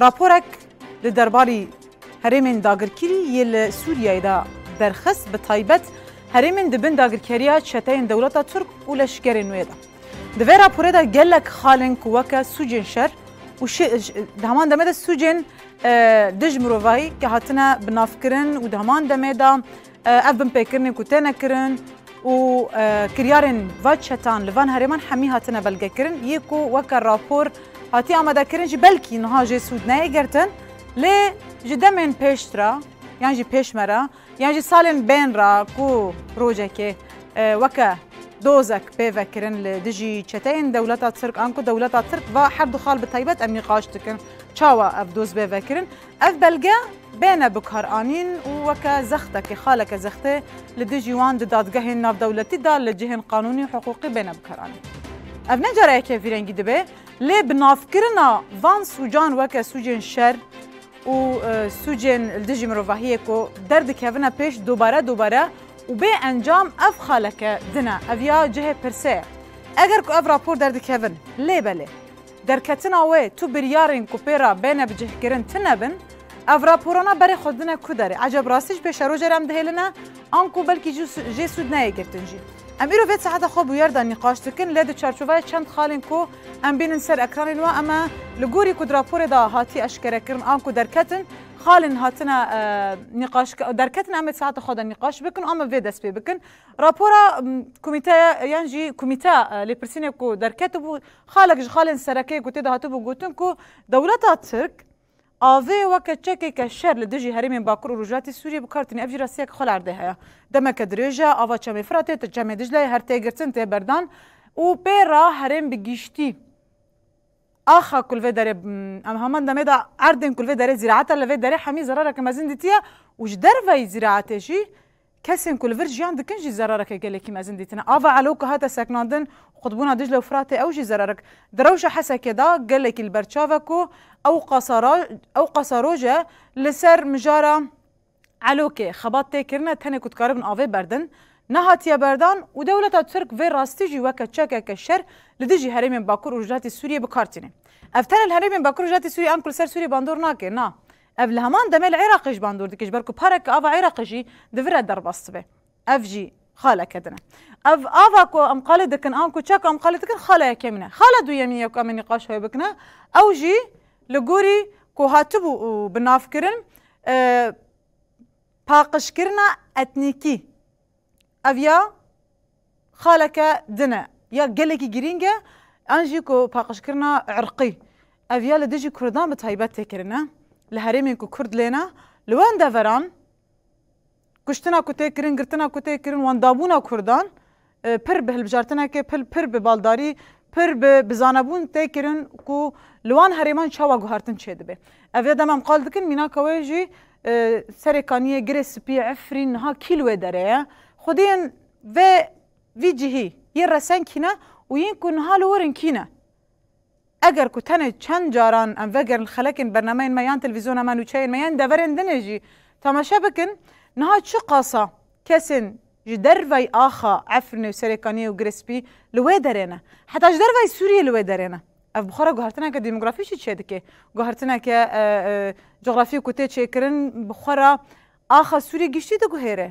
Raporek li derbarî herêmên dagirkirî yê li Sûriyeyê de derxist bi taybet herêmên di bin dagirkeriya çeteyên dewleta Tirk û leşkerên wê de. Di vê raporê de gelek xalên ku weke sûcên şer û di heman demê de sûcên dij mirovayî ke hatine binavkirin û di heman demê de Ev binpêkirinên ku têne kirin û kiryarên va çetan li van herêman hemî hatine belgekirin. Yê ku weke rapor hatiye amadekirin jî belkî niha jê sûd neyê girtin. Lê ji demên pêştra yan jî pêş me re yan jî salên bên re ku rojekê weke dozek pê vekirin li dijî çeteyên dewleta Tirk an ku dewleta Tirk va her du xal bi taybet em nîqaş dikin çawa ev doz bê vekirin. Ev belge bêne bikaranîn û weke zextekê, xaleke zextê li dijî wan di dadgehên navdewletî de li cihên qanûnî û hiqûqî bêne bikaranîn. Ev ne cara yekê vî rengî dibe, lê bi navkirina van sûcan weke sûcên şer û sûcên li dijî mirovahiyê ku derdikevine pêş dubare dubare û bê encam ev xaleke din e. Ev ya cihê pirse ye. Eger ku ev rapor derdikevin lê belê. Derketina wê tu biryarên ku pê re bêne bicihkirin tine bin, ev raporana berê xwe dine ku derê? Eceb rastî ji pê şerojê re em dihêline an ku belkî jî jê sûd neyê girtin jî? Em îro vê saeta xwe bûyer de nîqaş dikin lê di çarçovaya çend xalên ku em bînin ser ekranên we em e li gorî ku di raporê de hatiye eşkerekirin an ku derketin xalên hatine nîqaş derketin em ê saeta xwe de nîqaş bikin û em ê vê dest pê bikin. Rapora komîteya yan jî komîteya lêpirsînê ku derketibû Xalek ji xalên serekê ku tê de hatibû gotin ku dewleta Tirk avê weke çekeke şer li dijî herêmên bakur û rojhilatî Sûriyê bi kar tîne ev jî rastiyeke xwe li erdê heye. Demeke dirêj e ava Çemê Firatê, Çemê Dicleyê her tê girtin tê berdan û pê re herêm bi gîştî axa ku li vê derê em heman demê de erdên ku li vê derê zîraet e li vê derê hemî zerareke mezin dîtiye û ji derveyî zîraetê jî Kesên ku li vir jiyan dikin jî zerareke gelekî mezin dîtine. Ava Elo ku hate sekinandin qutbûna Diclê û Firatê ew jî zerarik. Di rewşa Hesekê de gelekî li ber çav e ku ew qasara ew qasa roj e li ser mijara Elokê xebat tê kirine tenê ku dikaribin avê berdin nehatiye berdan û dewleta Tirk vê rastî jî weke çekeke şer li dijî herêmên Bakur û Rojhilatê Sûriyê bi kar tîne. Ev tenê li herêmên Bakur û Rojhilatê Sûriyê an ku li ser Sûriyê bandor nake na Ev li heman demê li Iraqê ji bandor dikir ji ber ku parek ki ava Iraqê jî di vir re derbas be. Ev jî xaleke din e. Ev ava ku em qalê dikin an ku çek em qalê dikin xala yekê min e. Xala duyemîn ye ku em ê nîqaş hev bikine ew jî li gorî ku hatibû û bi navkirin paqijkirina etnîkî ev ya. Xaleke din e, ya gelekî girîng e an jî ku paqijkirina irqî. Ev ya li dijî Kurdan bi taybet tê kirin e. Li herêmên ku Kurd lê ne, li wan deveran kuştina ku tê kirin, girtina ku tê kirin, wendabûna Kurdan pir bi hilbijartinekê, pir bi baldarî, pir bi bizanebûn tê kirin ku li wan herêman çawa guhertin çêdibê. Ev ya dem em qal dikin mînaka wê jî serê kaniyê, girê spî, efrîn, niha kî li wê derê ye? Xwedî yên ve vî cihî yê reseng kî ne û yên ku niha li wir in kî ne? Eger ku tenê çend caran em vegerin li xelekên bernameyên me yan televîzyona me nûçeyên me yan deverên din ê jî temaşe bikin niha çi qasa kesên ji dervayî axa Efrînê û Serêkaniyê û Girespî li wê derê ne heta ji dervayî Sûriyê li wê derê ne. Ev bi xwe re guhertineke demografîk jî çêdike. Guhertineke cografîk ku tê çêkirin bi xwe re axa Sûriyê giştî diguhêre.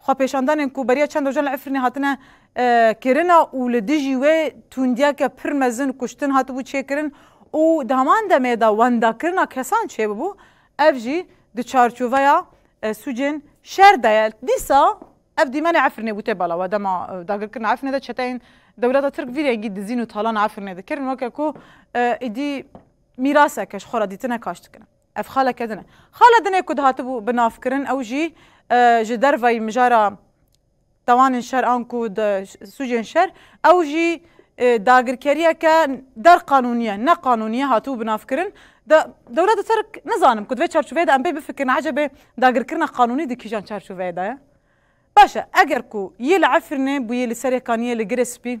Xwepêşandanên ku beriya çend rojan li Efrînê hatine kirina û li dijî wê tundiyeke pir mezin kuştin hatibû çêkirin û di heman demê de wendakirina kesan çêbûbû, ev jî di çarçoveya sûcên şer de ye. Dîsa ev dîmenê Efrînê bû tê bala we. Dema dagirkirina Efrînê de çeteyên dewleta Tirk vî rengî dizîn û talan Efrînê dikirin weke ku êdî mîraseke ji xwe re dîtine kaş dikirin. Ev xaleke din e. Xala din ê ku dihatibû binavkirin ew jî ji derveyî mijara tawanên şer an ku di sûcên şer ew jî dagirkeriyeke der qanûnî ye, ne qanûnî ye hatibû binavkirin. De dewlet di ser nizanim ku di vê çarçoveyê de em pê bifikirin ecebê dagirkirina qanûnî di kîjan çarçoveyê de ye. Baş e eger ku yê li Efrînê bûyê li Serêkaniyê li Girê Spî,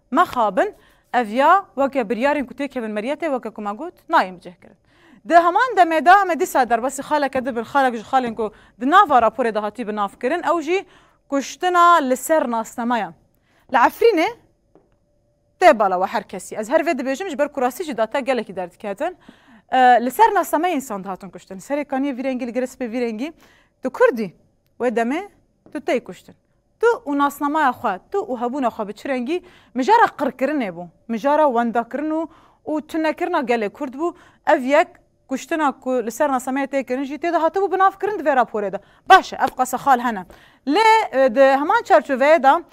Mexabin, ev ya weke biryarên ku têkevin meriyetê weke ku me got, nayên bicihkirin. Di heman demê de me dîsa derbasî xaleke dibin, xalek ji xalên ku di nava raporê de hatî binavkirin ew jî kuştina li ser nasname ye. Li Efrînê tê bala we her kesî. Ez her vê dibêjim ji ber ku rastî jî data gelekî derdiketin. Li ser nasnameyê însan dihatin kuştin. Serê kaniyê vî rengî li girê spê vî rengî. Tu kurdî. Wê demê tu tê kuştin. Tu û nasnamaya xwe, tu û hebûna xwe bi çi rengî? Mijara qirkirinê bû, mijara wendakirin û û tunekirina gelê Kurd bû. Ev yek kuştina ku li ser nasnameyê tê kirin jî tê de hatibû binavkirin di vê raporê de. Baş e, ev qasexal hene. Lê di heman çarçoveyê de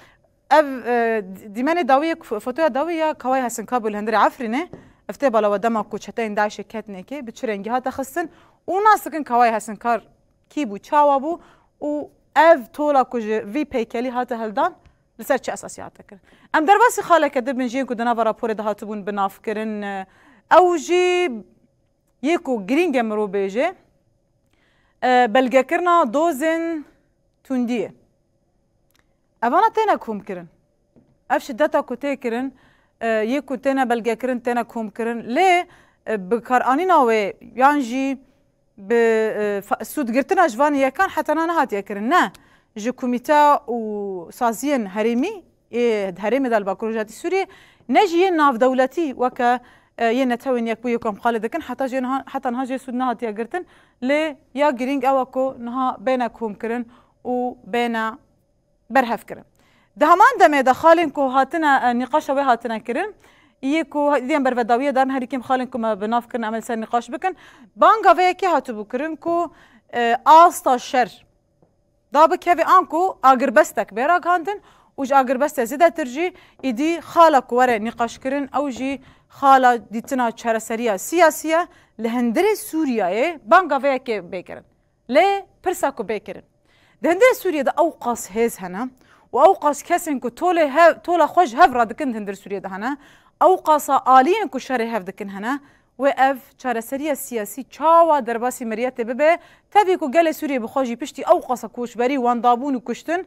ev dîmenê dawî yek, fotoya dawî ya Kawayê Hesinkabû li hundirê Efrînê, ev tê bala we dema ku çeteyên DAIŞ'ê ketine kê, bi çi rengî hate xistin û nas dikin Kawayê Hesinkar, Kî bû, çawa bû û ev tola ku ji vî peykelî hate hildan li ser çi esasî hate kirin? Em derbasî xaleke din bin jiyên ku di nava raporê de hatibûn bi nav kirin, ew jî yê ku girîng e mirov bêje belgekirina dozên tundî ye. Evana têne komkirin. Ev şideta ku tê kirin yê ku têne belgekirin, têne komkirin lê bikaranîna wê yan jî Bi sûdgirtina ji van yekan heta niha nehatiye kirin ne ji komîte û saziyên herêmî ê herêmê de li Bakur Rojhilatê Sûriyê ne jî yên navdewletî weke yên Netewên Yekbûyî Komxalê dikin heta jê niha heta niha jê sûd nehatiye girtin lê ya girîng ew e ku niha bêne komkirin û bêne berhev kirin. Di heman demê de xalên ku hatine nîqaşa wê hatine kirin yê ku diyên bervedawiyê darin herî kêm xalên ku me bi nav kirin em ê li ser nîqaş bikin, banga vê yekê hatibû kirin ku asta şer dabikeve an ku agirbestek bê ragihandin û ji agirbestê zêdetir jî îdî xala ku were nîqaşkirin ew jî xala dîtina çareseriya siyasî ye. Li hundirê Sûriyeyê banga vê yekê bê kirin. Lê pirsa ku bê kirin, di hindirê Sûriyê de ewqas hêz hene û ewqas kesên ku tolê hev, tola xwe ji hev radikin di hindirê Sûriyê de hene, ewqasa aliyên ku şerê hev dikin hene, wê ev çareseriya siyasî çawa derbasî miriyetê bibe, tevî ku gelê Sûriyê bi xwe jî piştî ewqasa koçberî, wendabûn û kuştin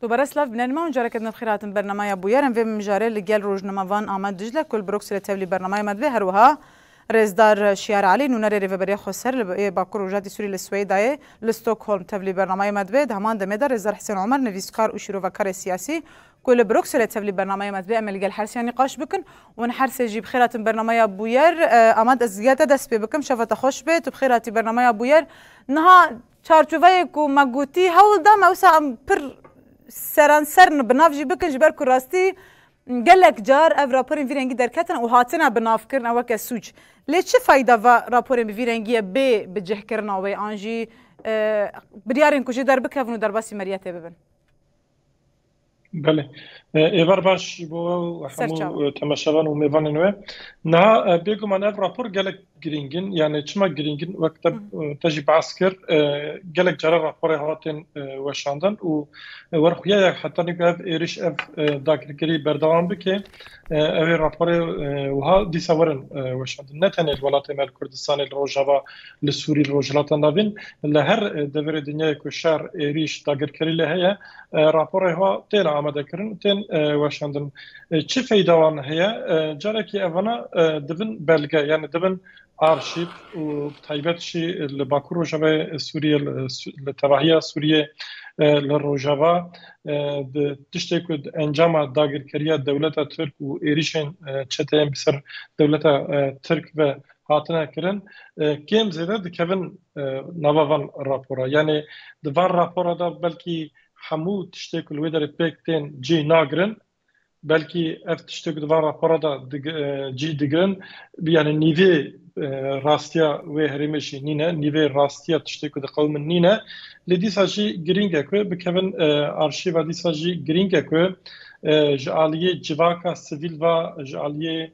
Tu bereslav bi nermî an careke din bi xêr hatin bernameya bûyerên vê mijarê li gel rojnama van Amed Dicle ku li Brukselê tevlî bernameya me dibê herwiha Rêzdar Şiyar Elî nûnerê Rêveberiya Xweser li yê Bakur Rojhilatê Sûrî li Swêdayê li Stockholm tevlî bernameya me dibê di heman demê de Rêzdar Hisên Omer nivîskar û şîrovekarê siyasî ku li Brukselê tevlî bernameya me dibê em ê li gel her seyan nîqaş bikin û hûn her sê jî bi xêr hatin bernameya bûyer Amed ez li gel te dest pê bikim şeva te xweş bê tu bi xêr hatî bernameya bûyer niha Çarçoveyê ku me gotî hewl da me wisa em pir seranser bi nav jî bikin ji ber ku rastî gelek car ev raporên vî rengî derketin û hatine bi nav kirin ew weke sûc. Lê çi feyda va raporên bi vî rengiyê bê bi cihkirina wê an jî biryarên ku jê derbikevin û derbasî meriyetê bibin? Belê. Êvar baş ji bo we û hemû temaşevan û mêvanên we. Niha bêguman ev rapor gelek girîng in. Yanê çima girîng in wek te jî behs kir gelek cara raporê hatin weşandin û werxuya ye heta nîka ev êrîş ev dakirkirî berdewam bike ew ê raporê wiha dîsa werin weşandin. Ne tenê li welatê me li Kurdistanê li rojava li Sûrî li rojhilata navîn li her deverê dinyayê ku şer êrîş dagirkerî lê heye Raporê xwe têne amadekirin û tên weşandin. Çi feyda wan heye? Carekî evana dibin belge yanî dibin arşîv û bi taybet jî li Bakur Rojavayê Sûriyê li tevahiya Sûriyê li Rojava di tiştê ku di encama dagirkeriya dewleta Tirk û êrîşên çeteyên bi ser dewleta Tirk ve Hatine kirin kêm zêde dikevin nava van rapora. Yanî di van rapora de belkî hemû tiştê ku li wê derê pêk tên cîh nagirin. Belkî ev tiştê ku di van rapora de cîh digirin yanî nîvê rastiya wê herêmê jî nîne, nîvê rastiya tiştê ku diqewim min nîne. Lê dîsa jî girîng e ku bikevin arşîva dîsa jî girîng e ku ji aliyê civaka sivîl ve ji aliyê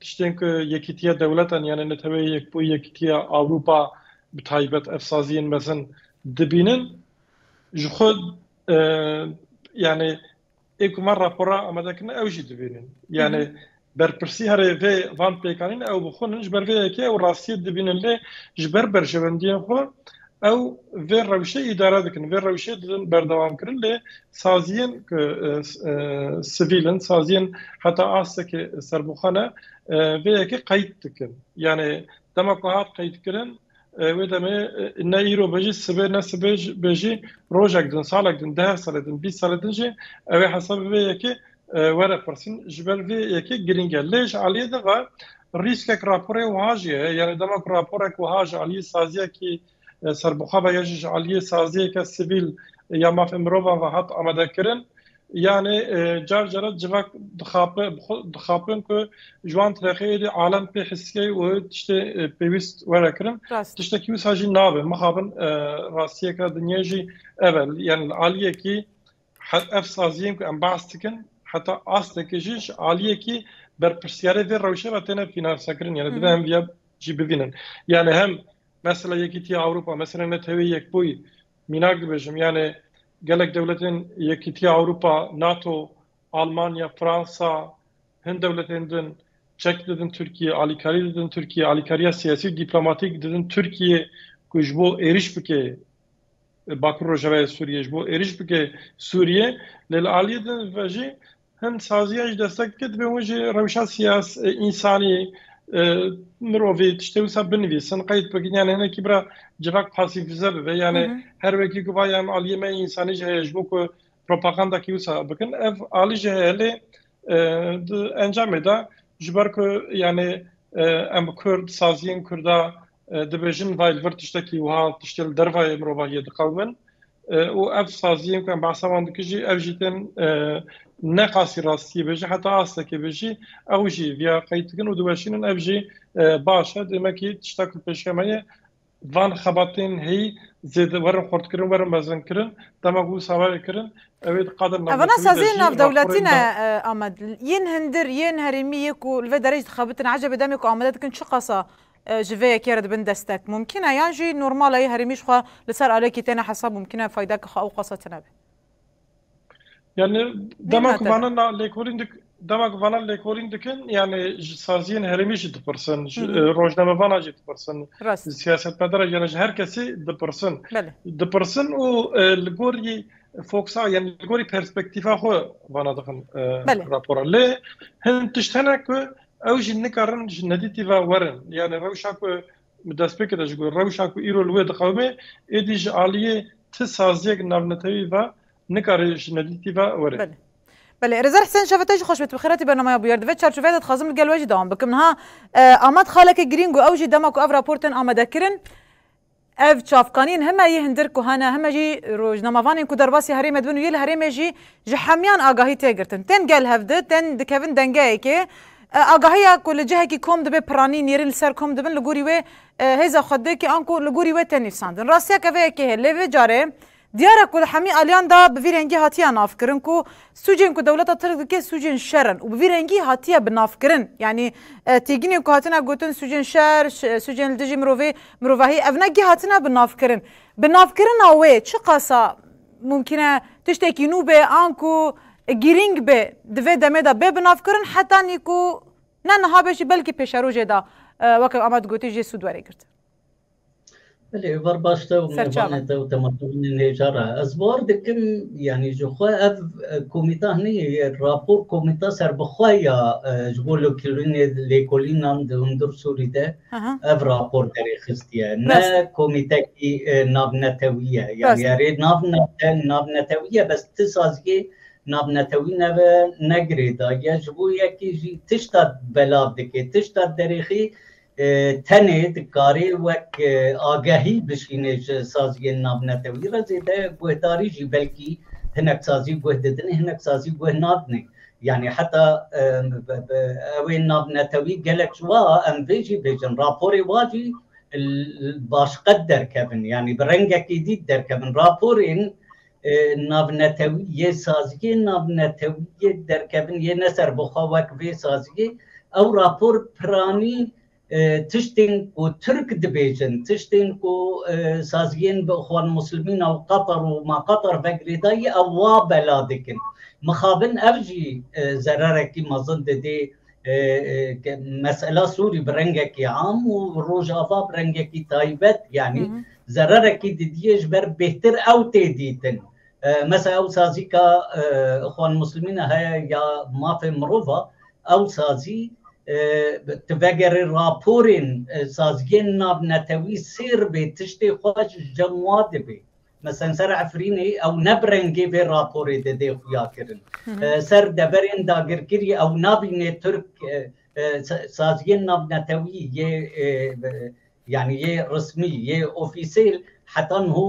Tiştên ku Yekîtiya Dewletan yanê Neteweyê Yekbûyî Yekîtiya Ewropa bi taybet ev saziyên mezin dibînin ji xwe yanê ê ku me rapora amade kirine ew jî dibînin. Yanê berpirsî herê vê van pêkanîn ew bi xwe nin ji ber vê yekê ew rastiyê dibînin lê ji ber berjewendiyên xwe Ew vê rewşê îdare dikin, vê rewşê didin berdewamkirin lê saziyên ku sivîl in, saziyên heta astekê serbixwe ne vê yekê qeyd dikin. Yanê dema ku hat qeydkirin wê demê ne îro be jî sibê ne sibê be jî rojek din, salek din, deh salê din, bîst salê din jî ew ê hesabê vê yekê Were pirsin ji ber vê yekê girîng e. Lê ji aliyê din re rîskek raporê wiha jî heye, yanî dema ku raporek wiha ji aliyê saziyekî serbixwe ve ya jî ji aliyê saziyeke sivîl ya mafên mirovan ve hat amadekirin, yanî car care civak dixape bi xwe dixapin ku ji wan tirexê êdî alem pê hissê û tiştê pêwîst were kirin. Tiştekî wisa jî nabe. Mixabin rastiyek e dinyayê jî ev e. Yanî li aliyekî Heta ev saziyên ku em behs dikin heta astekê jî ji aliyekî berpirsyarê vê rewşê ve têne fînansekirin yani dibe em vîya jî bibînin yani hem mesela Yekîtiya Ewropa mesela Neteweyê Yekbûyî mînak dibêjim yani gelek dewletên Yekîtiya Ewropa NATO Almanya Fransa hin dewletên din çek didin Tirkiye alîkarî didin Tirkiye alîkariya siyasî û dîplomatîk didin Tirkiye ku ji bo êriş bike Bakur Rojavayê Sûriyê ji bo êriş bike Sûriyê lê li aliyê din ve jî hin saziya ji deste dike dibe hûn jî rewşa siyas însanî mirovî tiştê wisa binivîsin qeyd bikin yan hinekî bira civak pasîfize bibe yanê her wekî ku va yan aliyê me însanî ji heye ji bo ku propaganda kî wisa bikin ev alî ji heye lê encamê de ji ber ku yanê em kurd saziyên kurda Dibêjin vay li vir tiştekî wiha tiştê li dervayê mirovahiyê diqewimin û ev saziyên ku em behsa wan dikin jî ev jî tên ne qasî rastiyê bê jî heta astekê bê jî ew jî viya qeyîd dikin û diweşînin ev jî baş e dêmekî tişta ku pêşiya me ye van xebatên heyî zêde werin xurtkirin werin mezinkirin dema ku wisa were kirin ew ê di qada navnetewî de jî Ev na saziyên navdewletî ne Amed yên hindir yên herêmî yê ku li vê derê jî dixebitin ecebê demê ku amade dikin çi qasa Ji vê yekê re dibin destek. Mumkîn e yan jî normal e yê herêmî ji xwe li ser alekî têne hesab mumkîn e faydeke xwe ew qasa tune be. Yanî dema ku vana lêkolîn dik dema ku vana lêkolîn dikin yanî ji saziyên herêmî jî dipirsin ji rojnamevana jî dipirsin ji siyasetmedara jiyan ji her kesî dipirsin dipirsin û li gorî foksa yanî li gorî perspektîfa xwe vana dixin rapora lê hin tişt hene ku Ew jî nikarin ji nedîtî ve werin. Yanî rewşa ku bi destpêkê de ji ku rewşa ku îro li wê diqewime êdî ji aliyê ti saziyek navnetewî ve nikare ji nedîtî ve were. Belê. Belê. Rêzer Hisên Şefe te jî xweş bê. Tu bi xêretî bernamaya bûyer. Di vê çarçoveyê de dixwazim li gel we jî dewam bikim. Niha Amed xaleke girîng û ew jî dema ku ev rapor tên amadekirin, Ev çavkaniyên heme yê hindir ku hene heme jî rojnamevanên ku derbasî herêmê dibin û yê li herêmê jî ji hemiyan agahî tê girtin. Tên gel hev di, tên dikevin dengeyekê. Agahiya ku li cihekî kom dibê piranî nêrîn li ser kom dibin li gorî wê hêza xwedekê anku li gorî wê tê nivîsandin. Rastiya keveyekê heye lê vê carê Diyar e ku li hemî aliyan de bi vî rengî hatiye navkirin ku sûcên ku dewleta tirk dike sûcên şer in û bi vî rengî hatiye bi navkirin. Yanî têginên ku hatine gotin sûcên şer, sûcên li dijî mirovê, mirovahî ev ne gih hatine bi navkirin. Bi navkirina wê çiqasa mumkîn e tiştekî nû be an ku girîng be di vê demê de bê bi navkirin heta nî ku ne niha be jî belkî pêşerojê de weke Amed gotî jê sûd were girtin. Belê êvar baş te û mêvanê te û temaşevanên hêja re. Ez bar dikim yanî ji xwe ev komîta hinî rapor komîta serbixwe ya ji bo lêkolînê lêkolînan di hundir Sûrî de ev rapor derê xistiye. Ne komîtekî navnetewî ye. Yanî erê navnete navnetewî ye bes ti saziyê navnetewî neve negirêdaye ji bo yekî jî tişta belav dike tişta derê xî Tenê dikarê wek agehî bişînê ji saziyên navnetewî re zêde guhdarî jî belkî hinek sazî guh didin hinek sazî guh nadinê. Yanî heta ew ê navnetewî gelek ji wa em vê jî bêjin raporê wa jî li baş qet derkevin yanî bi rengekî dît derkevin raporên navnetewî yê saziyê navnetewî yê derkevin yê ne ser bi xwe wek vê saziyê ew rapor piranî tiştên ku Tirk dibêjin, tiştên ku saziyên bi Ixwan Muslimîn û Qatar û ma Qatar ve girêdayî ew wa bela dikin. Mixabin ev jî zererek mezin didê Mesela Sûrî bi rengekî am û Rojava bi rengekî taybet yanî zererekî didiyê ji ber bêhtir ew tê dîtin. Mesela ew sazî ka Ixwan Muslimîne heye ya mafê mirov a ew sazî tu vegerê raporên saziyên navnetewî sêr bê tiştê xwe ji cem wa dibê. Meseln ser Efrînê ew ne bi rengê vê raporê de dê xuya kirin. Ser deverên dagirkirî ew nabînê Tirk saziyên navnetewî yê yanî yê rismî yê ofîsêl heta niho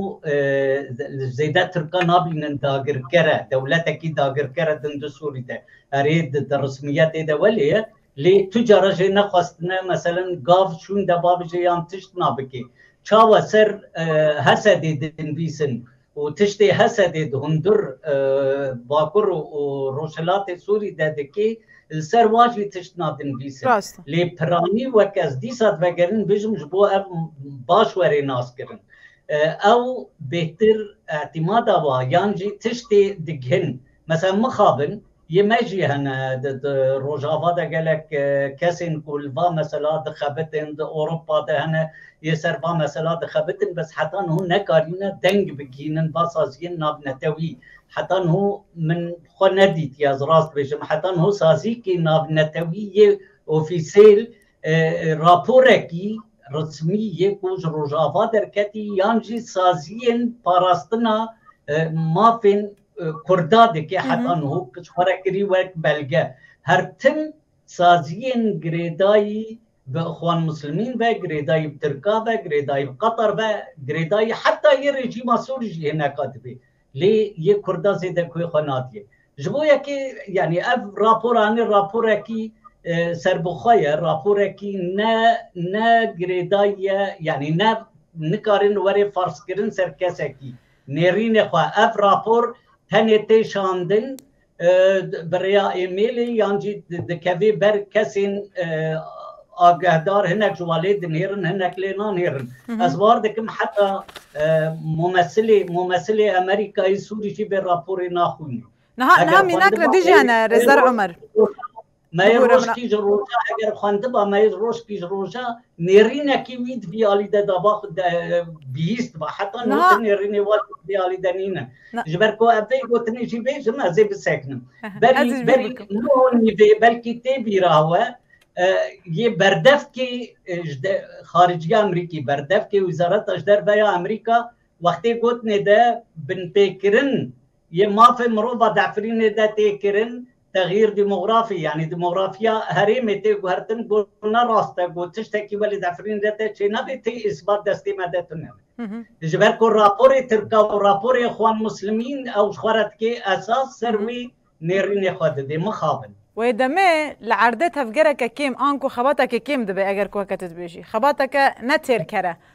zêde Tirkan nabînin dagirkere dewletekî dagirkere din di Sûrî de. Erê di rismiyetê de welê ye. Lê tu cara jê nexwestine meselen gav şûn de ba bije yan tişt na bike. Çawa ser Hesedê dinvîsin û tiştê Hesedê di hundur Bakur û Rojhilatê Sûrî de dike li ser wan jî tişt na dinvîsin. Rast e. Lê piranî wek ez dîsa divegerin bijim ji bo ev baş were naskirin. Ew bêhtir îtimada wa yan jî tiştê digihin. Meselen mixabin. Yê me jî hene di di rojava de gelek kesên ku li va mesela dixebitin di Ewropa de hene yê ser va mesela dixebitin bes heta niho nekarîne deng bigihînin va saziyên navnetewî heta niho min xwe nedîtiye ez rast bêjim heta niho saziyekî navnetewî yê ofîsêl raporekî rismî yê ku ji rojava derketî yan jî saziyên parastina mafên Kurda dike heta niho kiç xwe re kirî wek belge. Her tim saziyên girêdayî bi Ixwan Muslimîn ve, girêdayî bi Tirka ve, girêdayî bi Qatar ve, girêdayî heta yê rejîma Sûrî jî hineka dibê. Lê yê Kurda zêde guhê xwe nadiyê. Ji bo yekê yanî ev rapora ne raporekî serbixwe ye, raporekî ne ne girêdayî ye yanî ne nikarin were farzkirin ser kesekî. Nêrînê xwe, ev rapor tenê tê şandin bi rêya êmêlê yan jî dikevê ber kesên agehdar hinek ji wan lê dinêrin hinek lê nanêrin. Ez war dikim heta mumesilê mumesilê Amerîkayê Sûrî jî vê raporê naxwîne. Niha niha mînak ne dijî hene Rêzer Omer. Me yê roj pîj roja eger xwendiba me yê roj pîj roja nêrînekî wî di vî alî de daba xwe de bihîst diba heta nû di nêrînê wan di vî alî de nîne. Ji ber ku ev vê gotinê jî bêjim ez ê bisekinim. Berî berî nû nîvê belkî tê bîra we yê berdevkê ji de xariciya Amerîkî berdevkê wizareta ji derve ya Amerîka wextê gotinê de binpêkirin yê mafê mirova di Efrînê de tê kirin Texyîr demografî yanî demografiya herêmê tê guhertin ku ne rast e ku tiştekî welê di efirîn re tê çênebê tê îsbat destê me de tune ye. Ji ber ku raporê tirka û raporê Xwan Muslimîn ew ji xwe re dikê esas ser wî nêrînê xwe didê. Mixabin. Wê demê li erdê tevgereke kêm anku xebatekê kêm dibe eger ku weke tu dibêjî xebateke ne têrker e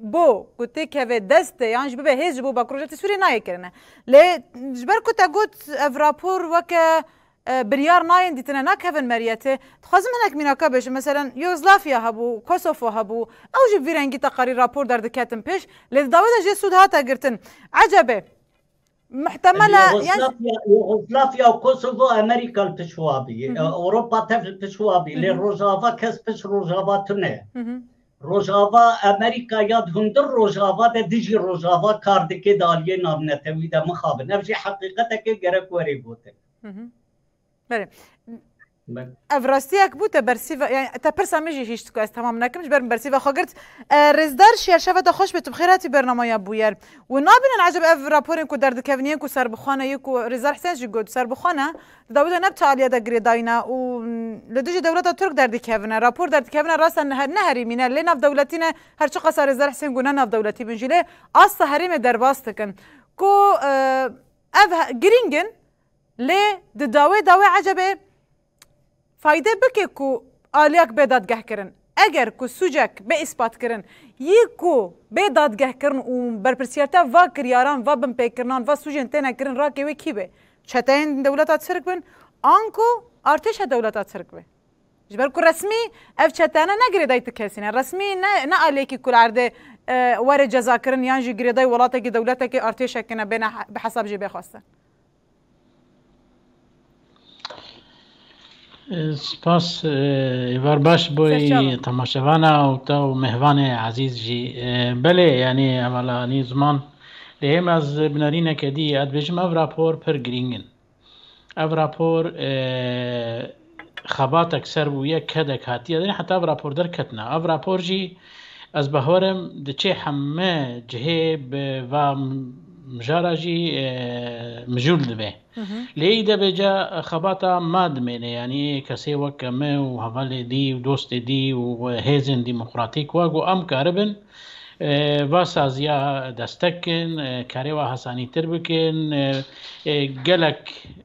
Bo ku tê keve destê yan jî bibe hêz ji bo Bakur Rojhiltê Sûriyê nayê kirine. Lê ji ber ku te got ev rapor weke biryar nayên dîtine nakevin meriyetê, dixwazim hinek mînaka bêjim. Meselen Yugoslafiya hebû, Kosofo hebû ew jî bi vî rengî teqarîr rapor derdiketin pêş lê di dawê de jê sûd hate girtin. Ecebê. Muhtemel e yan. Yugoslavya û Kosovo Amerîka li pişt wa bî. Ewropa tev li pişt wa bî. Lê Rojava kes pişt Rojava tune. Rojava Amerîka ya di hundir Rojava de dijî Rojava kar dike di aliyê navnetewî de mixabin. Ev jî heqîqetekê gerek were gotin. Ev rastiyek bû te bersîva te pirsa min jî hîşt ku ez temam nekim ji ber min bersîva xwe girt. Rêzdar şer şeva te xweş bê tu bi xêr hatî bernamaya bûyer. Wi nabînin ecêb ev raporên ku derdikevniyên ku serbixwane yê ku Rêzdar Hisen jî got serbixwane di dawî de ne bi tealiya de girê dayîne û li dijî dewleta Tirk derdikevine. Rapor derdikevine rast e ne herêmî ne lê navdewletî ne her çi qasa Rêzdar Hisen got ne navdewletî bin jî lê asta herêmê derbas dikin ku ev girîng in. Lê di dawê de wê ecebê fayde bike ku aliyak bê dadgehkirin. Eger ku sûcek bê îspatkirin, yî ku bê dadgehkirin û berpirsiyartiya va kiryaran, va binpêkirinan, va sûcên têne kirin rakê wê kî bê? Çeteyên dewleta tirk bin anku artêşa dewleta tirk be? Ji ber ku resmî ev çeteyane ne girêdayî ti kesî ne. Resmî ne ne aliyekî ku li erdê were cezakirin yan jî girêdayî welatekî, dewletekî, artêşekî ne bêne bi hesab jê bê xwestin. Spas êvar baş bû temaşevana û te û mêvanê ezîz jî. Belê yanî hevala anî ziman lê hêm ez bi nerîneke dî ez dibêjim ev rapor pir girîng in. Ev rapor xebatek ser bûye, kedek hatiye din heta ev rapor derketine. Ev rapor jî ez bawerim diçê heme cihê bi va mijara jî mijûl dibe. Lê î de bêca xebata ma dimêne yanî kesê wek me û hevalê dî û dostê dî û hêzên demokratîk wa ku em karibin va saziya destek kin, karê wa hesanîtir bikin, gelek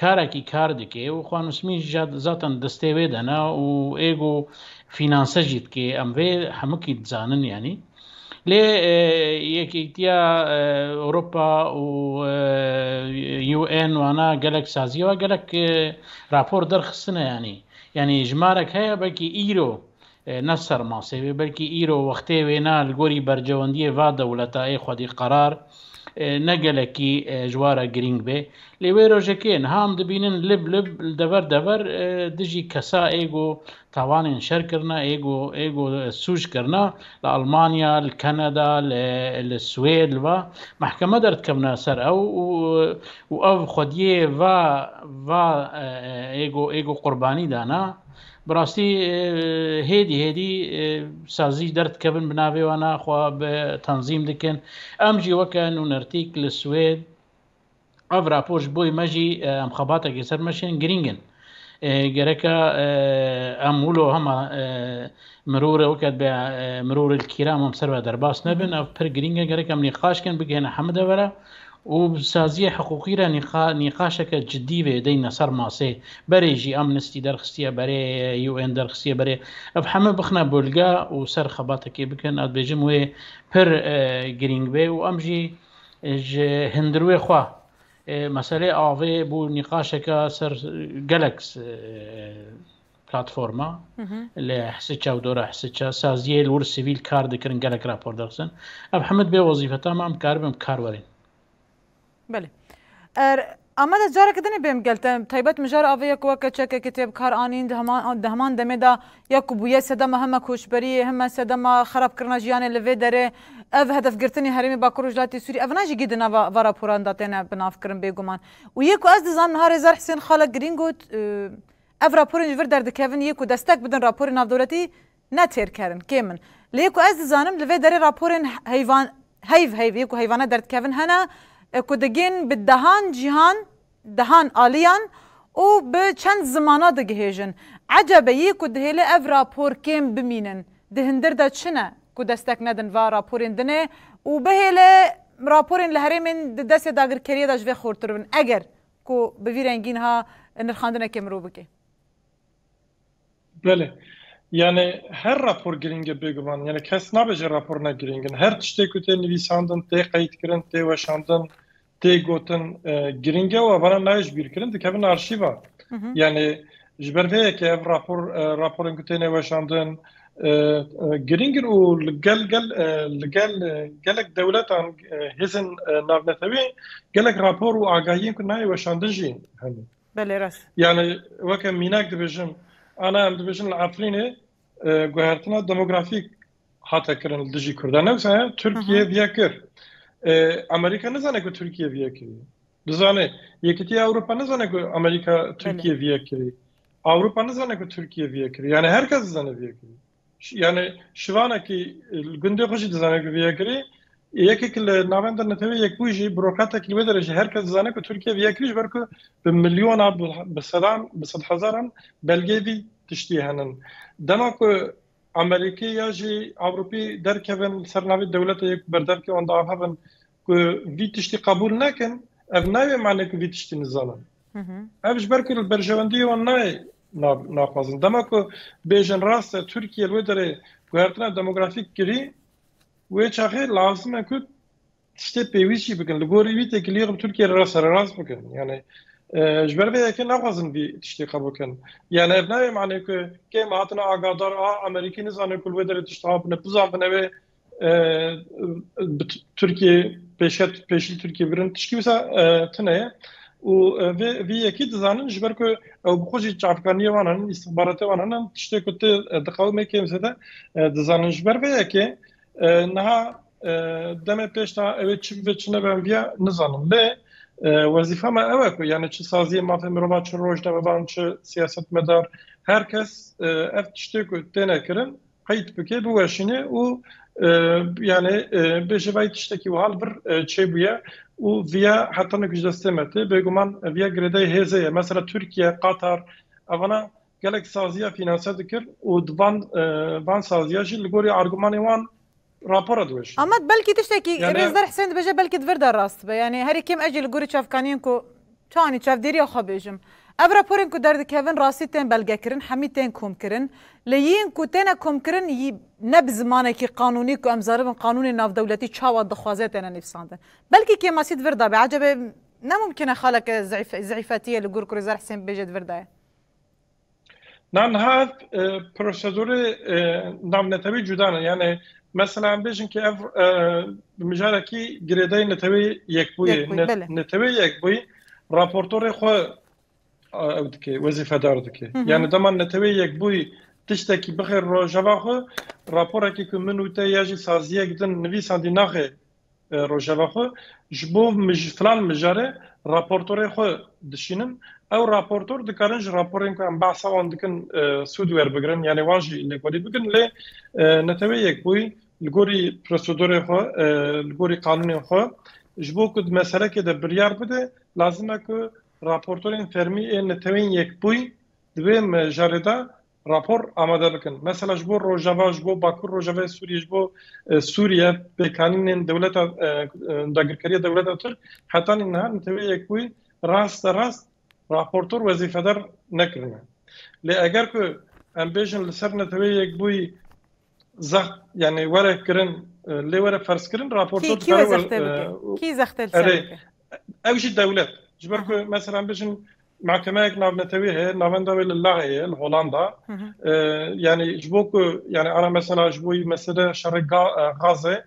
Karekî kar dike û xwe nusmî jî zaten destê wê de ne û êgo fînanse jî dike em vê hemikî dizanin yanî. Lê Yekîtiya Ewropa û UN wana gelek sazî wa gelek rapor derxistine yanî. Yanî ji marek heye belkî îro Ne ser masê wê belkî îro wextê wê ne li gorî bercewendiyê va dewleta ê xwedî qerar ne gelekî ji wa re girîng bê. Lê wê rojekê niha em dibînin lib lib li dever dever dijî kesa ê ku tawanên şer kirine ê ku ê ku sûc kirine li Almanya, li Kanada, li Swêd li va mehkeme derdikevine ser ew û û ev xwediyê va va ê ku ê ku qurbanî dane Bi rastî hêdî hêdî sazî derdikevin bi navê wan a xwe bi tanzîm dikin. Em jî weke nûnertîk li Swêd ev rapor ji boî me jî em xebatekê ser me şên girîng in. Gereka em wilo hema mirorê weke dibe mirorê li kîram em ser ve derbas nebin ev pir girîng e gerek em nîqaşkin bigihêne hemide vera. û bi saziyê hiqûqî re nîqaşeke cidî vedeyne ser masê. Berê jî Amnesty derxistiye berê, UN derxistiye berê. Ev heme bixine bolga û ser xebatekê bikin, ez dibêjim wê pir girîng bê û em jî ji hindirûyê xwe meseleyê avê bû nîqaşeke ser gelek Platforma li Hisiça û dora Hisiça saziyê li wir sivîl kar dikirin gelek rapor dixizin. Ev hemud bê wezîfeta me em dikaribin bi kar werin. Belê. Er Ameda careke din ê bêm gel te taybet mijar avê ya ku weke çekekê tê bi kar anîn di heman demê de ya ku bûye sedema heme koçberiyê heme sedema xerabkirina jiyanê li vê derê ev hedefgirtinê herêmê Bakur Rojhilatê Sûrî ev ne jî gî di nava va raporan de têne binavkirin bêguman û yê ku ez dizanim niha Rêzer Hisên Xalek Girîn got Ev raporên ji vir derdikevin yê ku destek bidin raporên navdewletî ne têr kerin, kêm in. Lê yê ku ez dizanim li vê derê raporên heyvan heyv heyv yê ku heyvane derdikevin hene ku digên bi dehan cîhan, dehan aliyan û bi çend zimana digihêjin. Ecebe yê ku dihêle ev rapor kêm bimînin. Di hindir de çi ne ku destek nedin va raporên din ê û bihêle raporên li herêmên di destê dagirkeriyê de ji vê xortir bin. Eger Ku bi vî rengî niha nirxandinekê mirov bike. Belê. Yanê her rapor girîng e bêguman. Yanê kes nabe jê rapor ne girîng in. Her tiştê ku tê nivîsandin, tê qeydkirin, tê weşandin, tê gotin girîng e û evana nayê ji bîrkirin dikevin arşîva. Yanê Ji ber vê yekê ev rapor raporên ku têne weşandin girîng in û li gel gel li gel gelek dewletan hêzên navnetewî gelek rapor û agahiyên ku nayê weşandin jî hene. Belê rast. Yani weke mînak dibêjim ana em dibêjin li Efrînê guhertina demografîk hate kirin li dijî Kurdan. Ne wisa ye Tirkiye viya kir. Amerîka nizane ku Tirkiye viya kiriye. Dizane Yekîtiya Ewropa nizane ku Amerîka Tirkiyê vî yek kirî. Ewropa nizane ku Tirkiyê vî yek kirî. Yanî her kes dizane vî yek kirî. Yanî şivanekî li gundê xwe jî dizane ku vî yek kirî. Yekek li navenda netewê Yekbûyî jî burokratek li wê derê jî her kes dizane ku Tirkiye vî yek kirî ji ber ku bi milyona bi sedan bi sedhezaran belgeyê vî tiştiyê hene. Dema ku Amerîkî ya jî Ewropî derkevin li ser navê dewlete yê ku berdevkê wan diavivin Ku vî tiştî qebûl nekin ev nayê mane ku vî tiştî nizanin. Ev ji ber ku li berjewendiyê wan nayê naxwazin. Dema ku bêjin rast e Tirkiye li wê derê guhertina demografîk kirî wê çaxê lazim e ku tiştê pêwîst jî bikin. Li gorî wî têkiliyê bi Tirkiye re sererast bikin. Yanê ji ber vê yekê naxwazin vî tiştê qebûl bikin. Yanê ev nayê mane ku kêm hatina agadar a Amerîkî nizane ku li wê derê tişt habine bizanbine wê Tirkiyê pêşket pêşî Tirkiyê birin tişkî wisa tune ye û vê vî yekî dizanin ji ber ku ew bi xwe jî çavkaniyê wan in îstixbaratê wan in tiştê ku tu diqewimê kêm zêde dizanin ji ber vê yekê niha demê pêş de ew ê çi bibe çi nebe em viya nizanin lê wezîfa me ew e ku yanê çi saziyê mafê mirova çi rojnamevan çi siyasetmedar her kes ev tiştê ku têne kirin qeyd bike, biweşîne û yanê bêje vay tiştekî wiha li vir çêbûye û viya heta nûk ji destê me tê. Bêguman viya girêdayî hêzê ye. Mesela Tirkiye, Qatar evana gelek saziya fînanse dikir û di van saziya jî li gorî argumanê wan, Rapora diwêjin. Amed belkî tiştekî Rêzder Hisên dibêje belkî di vir de rast be. Yanî herî kêm ez jî li gorî çavkaniyên ku çanî çavdêriya xwe bêjim. Ev raporên ku derdikevin rastî tên belgekirin, hemî tên komkirin. Lê yên ku têne komkirin ne bi zimanekî qanûnî ku em zaribin qanûnê navdewletî çawa dixwaze têne nivîsandin. Belkî kêmasî di vir de be. Ecebê ne mumkîne xaleke zîfetiye li gor ku Rêzder Hisên bibêje di vir de ye. Nanha ev prosedûrê navnetewî cuda ne. Yanê mesela em bêjin ke ev bi mijarekî girêdayî netewê yekbûyê. Netewê yekbûyî raportorê xwe ew dike, wezîfedar dike. Yanê dema netewê yekbûyî tiştekî bixê rojeva xwe, raporekî ku min û te ya jî saziyek din nivîsandî naxê Rojava xwe ji bo filan mijarê raportorên xwe dişînin. Ew raportor dikarin ji raporên ku em behsa wan dikin sûd werbigrin yanî wan jî lêkolî bikin lê neteweyî yek bûyî li gorî prosedorên xwe li gorî qanûnên xwe ji bo ku di meselekê de biryar bide lazim e ku raportorên fermî ên neteweyîn yek bûyî di vê mijarê de Rapor amade bikin. Mesela ji bo rojava, ji bo bakur rojavayê Sûriyê, ji bo Sûriye pêkanînên dewleta dagirkeriya dewleta Tirk hetanî niha neteweyek wî rast de rast raportor wezîfedar nekirine. Lê eger ku em bêjin li ser neteweyek bûyî zext yanî were kirin lê were ferzkirin raportor dikare were. Kî zextê li ser bike? Ew jî dewlet ji ber ku meselan bijin mahkemeyek navnetewî heye navenda wê li Laê ye li Holanda yanî ji bo ku yanî ara mesela ji bo wî mesele şerê Gaze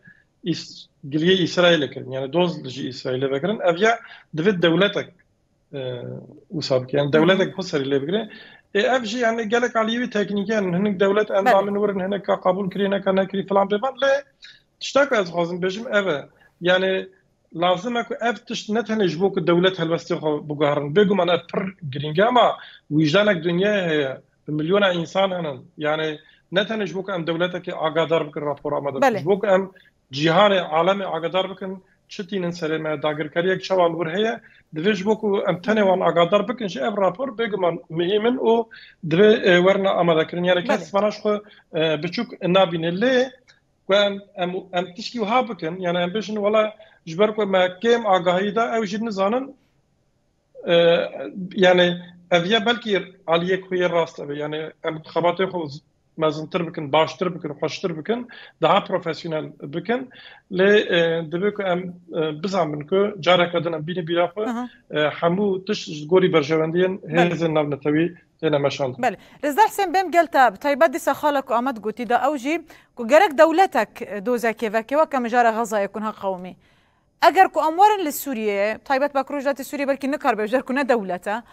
giliyê Îsraîlê kirin yanî doz ji Îsraîlê vekirin ev ya divê dewletek wisa bike yan dewletek xwe serî lê bigire ê ev jî yanî gelek aliyê wî teknîkî yan hinek dewlet endamên wir in hineka qebûl kirî hineka nekirî filan pê van lê tişta ku ez dixwazim bêjim ev e yanî lazim e ku ev tişt ne tenê ji bo ku dewlet helwestê xwe biguherin. Bêguman ev pir girîng e ma wîjdanek dinyayê heye. Bi milyona însan hene. Yanê ne tenê ji bo ku em dewletekê agadar bikin rapora me de. Ji bo ku em cîhanê, alemê agadar bikin çi tînin serê me, dagirkeriyek çawa li wir heye. Divê ji bo ku em tenê wan agadar bikin jî ev rapor bêguman muhîm in û divê werin amadekirin. Yanê kes vana ji xwe biçûk nabîne. Lê ku em em em tişkî wiha bikin yani em bêjin wala ji ber ku me kêm agahî da ew jî nizanin yani ev ye belkî aliyê ku yê rast ebe yani em xebatê xwe mezintir bikin baştir bikin xweştir bikin daha profesyonel bikin lê divê ku em bizanin ku careke din em bînî bîra xwe hemû tişt ji gorî berjewendiyên hêzên navnetewî têne meşandin. Belê. Rêzdar Hisên Bêm gel te bi taybet dîsa xala ku Amed gotî da ew jî ku gerek dewletek dozekê veke weke mijara Xezayê kunha qewimî. Eger ku em werin li Sûriyeyê, taybet bak Rojhilatê Sûriyê belkî nikaribe ji ber ku ne dewlet e.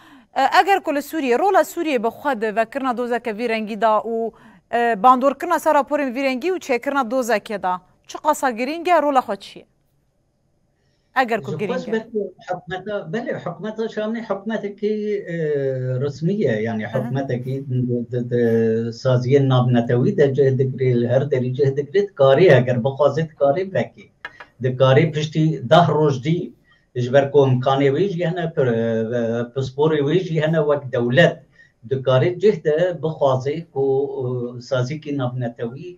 Eger ku li Sûriyê, rola Sûriyê bi xwe di vekirina dozeke vî rengî da û bandorkirina ser raporên vî rengî û çêkirina dozekê da çiqasa girîng e, rola xwe çi ye? eger ku girîng e. Belê hikûmeta Şamê hikûmetekî resmî ye yanî hikûmetekî di saziyên navnetewî de cih digrî li her derî cih digrî dikarî eger bixwazî dikarî vekî dikarî piştî deh roj dî ji ber ku imkanê wî jî hene pisporê wî jî hene wek dewlet dikarî cih de bixwazê ku saziyekî navnetewî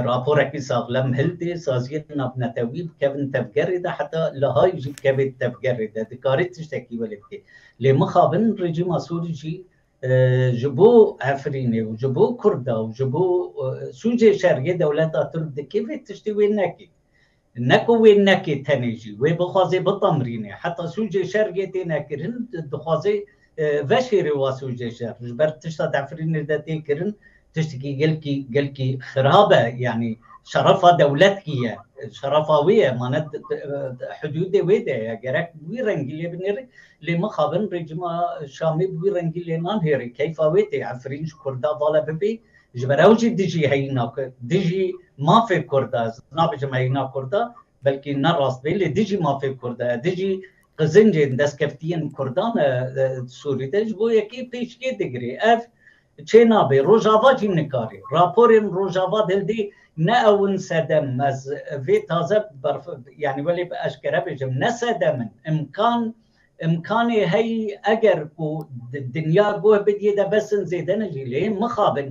Raporekî sax, lem hildê saziyên navnetewî bikevin tevgerê de heta Lihayê jî bikeve tevgerê de dikare tiştekî welê bike. Lê mixabin rejîma Sûrî jî ji bo Efrînê û ji bo Kurda û ji bo sûcê şeriyê dewleta Tirk dikê vê tiştê wê nekê. Ne ku wê neke tenê jî wê bixwaze bitamrîne. Heta sûcê şer yê tê nekirin dixwaze veşêre wa sûcê şer. Ji ber tişta di Efrînê de tê kirin tiştekî gelkî gelkî xirab e. Yanî şerefa dewletkî ye. Şerefa wê ye ma ne hidûdê wê de ye. Gerek bi wî rengî lê binêre. Lê mixabin rejîma Şamê bi wî rengî lê nanêre. Keyfa wê tê Efrîn ji Kurda vala bibe Ji ber ew jî dijî heyîna dijî mafê Kurd e. Ez nabêjim heyîna Kurd e, belkî ne rast bê lê dijî mafê Kurd e, dijî qizincên destkeftiyên Kurdan e Sûrî de. Ji bo yekê pêşkê digirê. Ev çê nabê. Rojava jî nikarî. Raporên Rojava dildê ne ew in sedem. Ez vê taze berf yanî welê bi eşkere bêjim ne sedem in. Îmkan Îmkanê heyî eger ku di dinya guh bidîyê de bes in zêde ne jî lê mixabin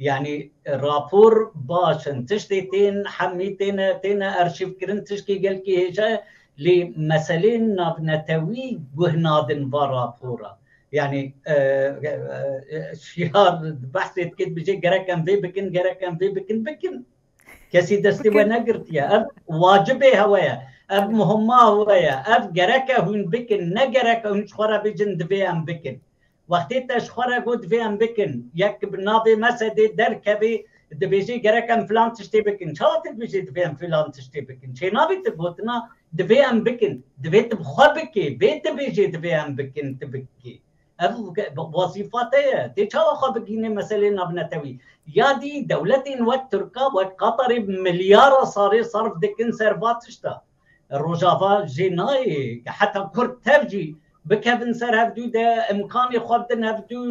yanî rapor baş in tiştê tên hemî têne têne erşîvkirin tiştê gelkî hêja ye lê meseleyên navnetewî guh nadin va rapora yanî şiyar behsê dike dibijê gerek em vê bikin gerek em vê bikin bikin Kesî destê we negirtiye. Ev wacibê hewe ye. Ev muhima hewe ye. Ev gereke hûn bikin. Ne gereke hûn ji xwe re bêjin divê em bikin. Wextê te ji xwe re got divê em bikin, yek bi navê Mesedê derkevê dibêjê gerek em filan tiştê bikin. Çawa tu dibêjî divê em filan tiştê bikin? Çênavê tu gotina divê em bikin. Divê tu bi xwe bikê. Bê tu bêjê divê em bikin, tu bikî. Ev wezîfa te ye. Tê çawa xwe bigihînê meseleyên navnetewî? Ya dî dewletên wek Tirka, wek Qatarê milyara salê sarf dikin ser va tişta. Rojava jê nayê ke heta Kurd tev jî bikevin ser hevdû de, imkanê xwe bidin hevdû,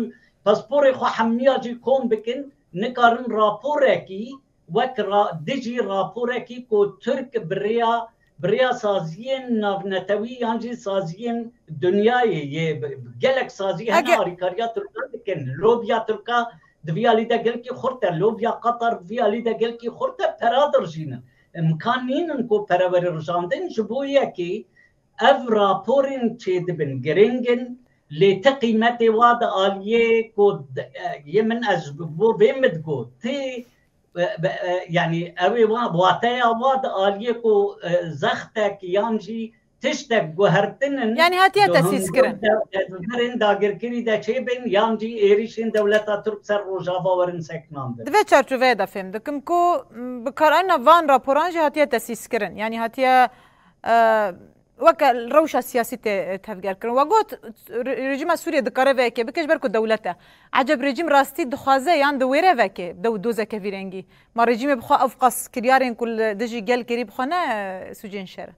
pasporê xwe hemniya jî kom bikin, nikarin raporekî wek di jî raporekî ku Tirk bi rêya bi rêya saziyên navnetewî yan jî saziyên dinyayê yê gelek sazî hene alîkariya Tirkan dikin. Lobiya Tirka di vî alî de gelkî xurt e, lobiya Qatar di vî alî de gelkî xurt e, pera dirijînin. Imkan nînin ku pere were rijandin ji bo yekî Ev raporên çêdibin giring in lê ti qîmetê wa di aliyê ku yê min ez ji bo vê min digot ti yanî ew ê wateya wa di aliyê ku zextek yan jî tiştek guhertin in yanî hatiye tesîskirin tedbirên dagirkirî de çêbin yan jî êrîşên dewleta Tirk ser Rojava werin sekinandin. Di vê çarçoveyê de fêm dikim ku bikaranîna van raporan jî hatiye tesîskirin yanî hatiye weke rewşa siyasî tê tevgerkirin. We got rejîma Sûriyê dikare vê yekê bike ji ber ku dewlet e. Eceb rejîm rastî dixwaze yan diwêre vekê dew dozeke vî rengî. Ma rejîmê bi xwe ev qas kiryarên ku li dijî gel kirî bi xwe ne sûcên şer in.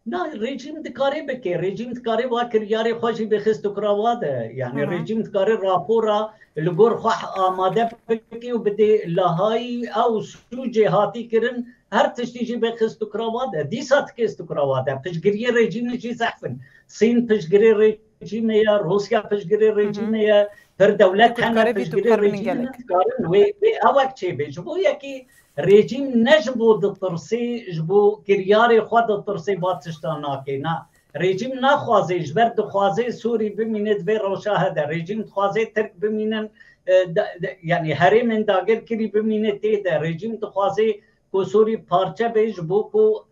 Na rejîm dikare bike. Rejîm dikare wa kiryarê xwe jî bixist û kira wa de. Yanî rejîm dikare rapora li gor xwe amade bike û bidê Lehayî ew sûcê hatî kirin Her tiştî jî bê xist û kravat e. Dîsa ti kês tu kravat e. Piştgiriyê rejîmê jî zehf in. Sîn piştgirê rejîmê ye, Rûsya piştgirê rejîmê ye, pir dewlet hene piştgirê rejîmê ne. Dikarin wê ewek çêbê. Ji bo yekî rejîm ne ji bo ditirsê, ji bo kiryarê xwe ditirsê va tiştan nakê. Na, Rejîm naxwazê ji ber dixwazê Sûrî bimîne di vê rojahe de. Rejîm dixwazê Tirk bimînin yanî herêmên dagirkirî bimîne tê de. Rejîm dixwazê ku Sûrî parçe bê ji bo ku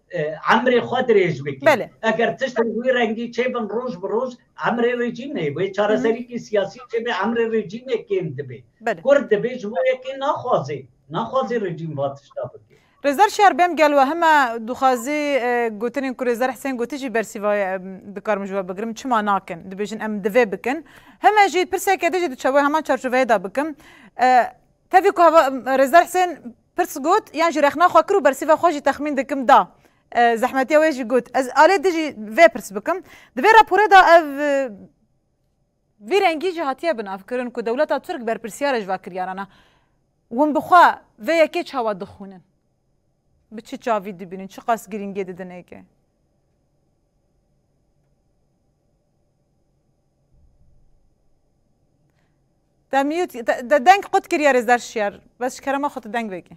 emrê xwe dirêj bike. Eger tiştên wî rengî çêbin roj bi roj emrê rejîmê wê çareserîkî siyasî çêbe emrê rejîmê kêm dibe. Kurd dibê ji bo yekê naxwazê. Naxwazê rejîm va tişta bike. Rêzer Şer bêm gel we heme dixwazî gotinên ku Rêzer Hisên gotî jî bersîvaye dikarim ji we bigirim çima nakin dibêjin em divê bikin heme jî pirseke din jî diçe wê heman çarçoveyê de bikim tevî ku heva Rêzer Hisên pirs got yan jî rexna xwe kir û bersîva xwe jî texmîn dikim da zehmetiya wê jî got ez alê din jî vê pirs bikim di vê rapore de ev Vî rengî jî hatiye binavkirin ku dewleta Tirk berpirsyar e ji vakiryaran e. Hûn bi xwe vê yekê çawa dixwînin? Bi çi çavî dibînin? Çiqas girîngiyê didin êkê? Te mute, te deng qut kiriye Rêzler Şiyar. Bes ji kerema xwe tu deng vekî.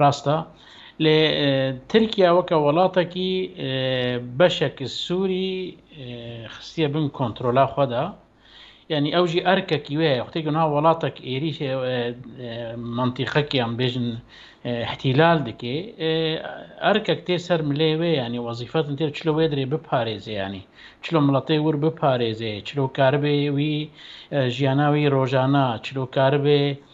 Rasta. Lê Tirkiye weke welatekî beşek Sûrî xistiye bin kontrola xwe de. Yanî ew jî erkekî wê heye. Xwetê ku niha welatek êrîş mantîqekî em bêjin îhtîlal dike, erkek tê ser milê wê yanî wezîfetin tê çilo wê dirê biparêze yanî. Çilo miletê wir biparêze, çilo karibe wî jiyana wî rojana, çilo karibe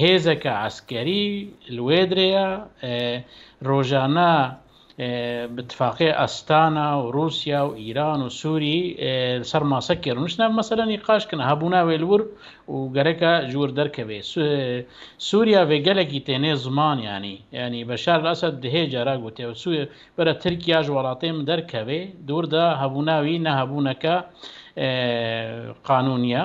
Hêzeke eskerî li wê dirê ye. Rojane bi tifaqê Astana û Rûsya û Îran û Sûrî li ser masekê rûniştin ev mesele nîqaş kin. Hebûna wê li wir û gereke ji wir derkeve. Sûrya vê gelekî tê nê ziman yanî. Yanî Beşar el Esed dihê cara got ew bere Tirkiya ji welatê min derkeve. Di wir de hebûna wî ne hebûneke qanûnî ye.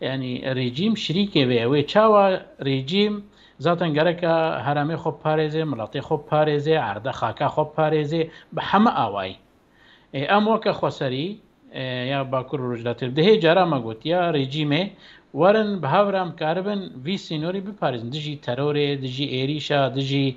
Yanî rejîm şirîkê vê ye. Wê çawa rejîm zaten gereka heremê xwe biparêzê, miletê xwe biparêzê, erde xaka xwe biparêzê bi heme awayî. Em weke xweserî ya Bakur û Rojhilatê bi dihê caran me gotiya rejîmê werin bi hev re em karibin vî sînorî biparêzin dijî terorê, dijî êrîşa, dijî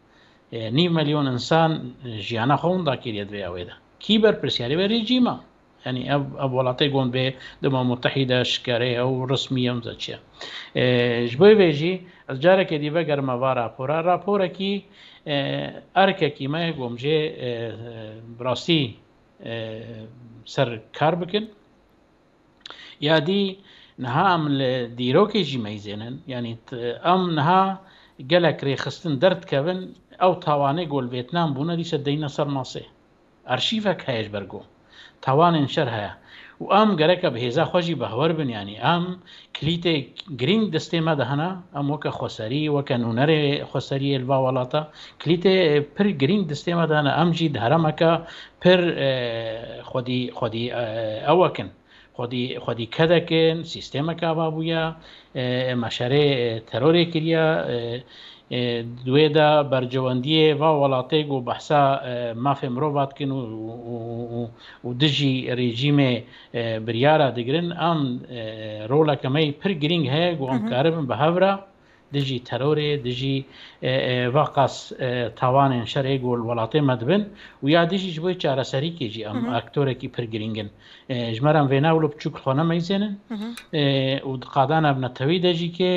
Nîv milyon însan jiyana xwe winda kiriye di vêya wê de. Kî berpirsiyarê be rejîma. Yanî ev ev welatê gund bê di Umam Mutehîde şikere ye û rismî ye mizin çi ye. Ji bo vê jî ez carekê dî vegerime va rapora. Raporekî erkekî me gomjê bi rastî ser kar bikin. Ya dî niha em li dîrokê jî meyzên in. Yanî em niha gelek rêxistin derdikevin ew tawanê ku li Vêtnam bûne dîsa deyne ser masê. Arşîvek heye ji ber ku tawanên şer heye û em gereke bi hêza xwe jî bexwer bin yanî em Kilîtê girîng destê me de hene. Em weke xweserî, weke nûnerê xweseriyê li va welata kilîtê pir girîng destê me de hene. Em jî di heremeke pir xwedî xwedî ewek in. Xwedî xwedî kedek in, sîstemeke ava bûye, meşerê terorê kiriye. Di wê de bercewendiyê va welatê ku behsa mafê mirova dikin û dijî rejîmê biryara digirin an roleke me yê pir girîng heye ku em karibin bi hev re dijî terorê, dijî va qas tawanên şerê ku li welatê me dibin û ya dijî ji bo çareserîkê jî em aktorekî pir girîng in. Ji me re em vê newlo piçûk li xwe nemeyzênin û di qadan ev netewî de jî kê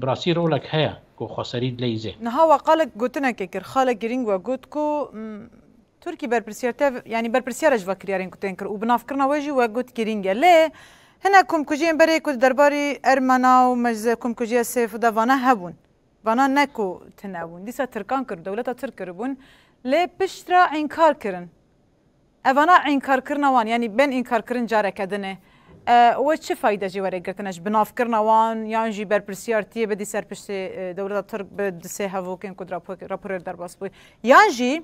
bi rastî rolek heye ku xweserî dileyîze. Niha we qal gotinekê kir, xalek girîng we got ku Turkî berpirsiyar tev yanî berpirsiyara ji vakiryarên ku tên kir û binavkirina wê jî wek got girîng e. Lê hinek komkujiyên berê ku di derbarî Ermena û meclisa komkujiya Sêfû de vana hebûn. Vana ne ku tune bûn. Dîsa tirkan kiribûn, dewleta tirk kiribûn. Lê pişt re înkar kirin. Ev vana înkarkirina wan yanî bên înkarkirin careke din e. We çi fayde jê were girtine ji binavkirina wan yan jî berpirsiyar tiyê bidî ser piştê dewleta tirk bi di sê hevokên ku di raporê de derbas bû yan jî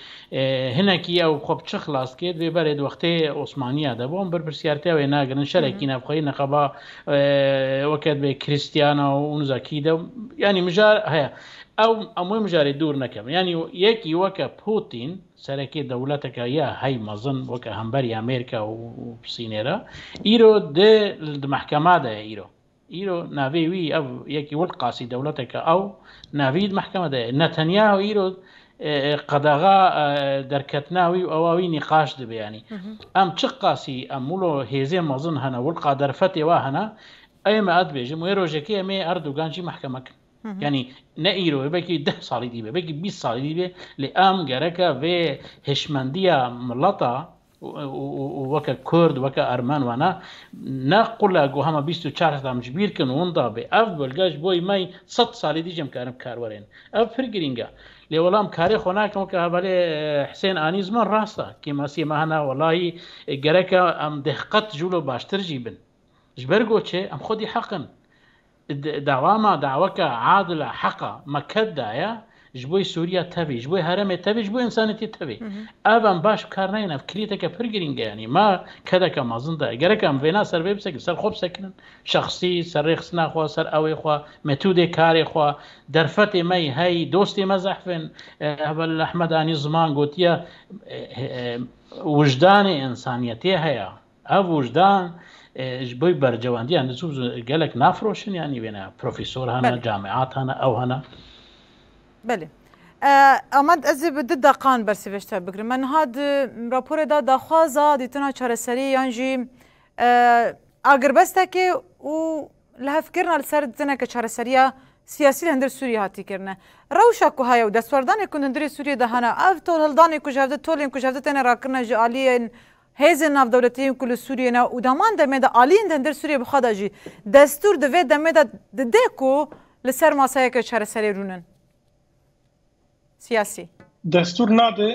Hinekî ew xwe bi çi xilas kir? Vê berê di wextê Osmaniya de bû. Em berpirsiyartiya wê nagirin. Şerekî navxweyî neqeba weke dibê Krîstiyana û niza kî de yanî mijar heye. Ew em wê mijarê dûr nekevin. Yanî yekî weke Pûtîn, serekê dewleteke ya hey mezin weke hemberî Amerîka û Sînê re, îro di di mehkema de ye îro. Îro navê wî ev yekî Wilqasî dewleteke ew navî di mehkeme de ye. Netanyahu îro qedexa derketina wî û ewa wî nîqaş dibe yanî. Em çi qasî em wilo hêzên mezin hene, wilqa derfetê wa hene, ê me ez dibêjim wê rojekê em ê Erdogan jî mehkeme kin. Yanî ne îro wê belkî deh salî dî be, belkî bîst salî dî be lê em gereke vê hişmendiya mileta û weke kurd, weke ermen wene, ne qule ku hema bîst û çar sed em ji bîr kin û winda bê. Ev bûlge ji bo me sed salî dî jî em karin bikaerwerên. Ev pir girîng e. Lê wela em karê xwe nakin weke hevalê Hisên Anî ziman rast e. Kêmasiyê me hene welahî gerek e em deh qet ji wilo baştir jî bin. Ji ber ku çi? Em xwedî heq in. Di dewama daweke adil a, heq a, me ket daye ji bo Sûriya tevî, ji bo herêmê tevî, ji bo însanîtî tevî. Ev em baş bi kar nayîn, ev kirîyeteke pir girîng e yanî. Me kedeke mezin daye. Gerek em vêna ser vê bisekin, ser xwe bisekinin. Şexsî, ser rêxistina xwe, ser ewê xwe, metûdê karê xwe, derfetê me yî heyî, dostê me zehf in. Hevalîl Ehmed anî ziman gotiye, Wijdanê însanîyetê heye. Ev wijdan ji bo bercewandiya nizû gelek nafroşin yanî wê ne profesor hene, camiat hene, ew hene. Belê. Amed ez ê bi du deqan bersivêj te bigirim. Me niha di raporê de daxwaza dîtina çareseriyê yan jî agirbestekê û li hevkirina li ser teneke çareseriya siyasî li hundir Sûriyê hatî kirine. Rewşa ku heye û destwerdanê ku li hundirê Sûriyê de hene, ev tolhildanê ku ji hev de tolên ku ji hev de têne rakirine ji aliyên Hêzên navdewletî yên ku li Sûriyê ne û di heman demê de aliyên di hindir Sûriyê bi xwe de jî destûr di vê demê de dide ku li ser masayeke çareserê rûn in. Siyasî. Destûr nade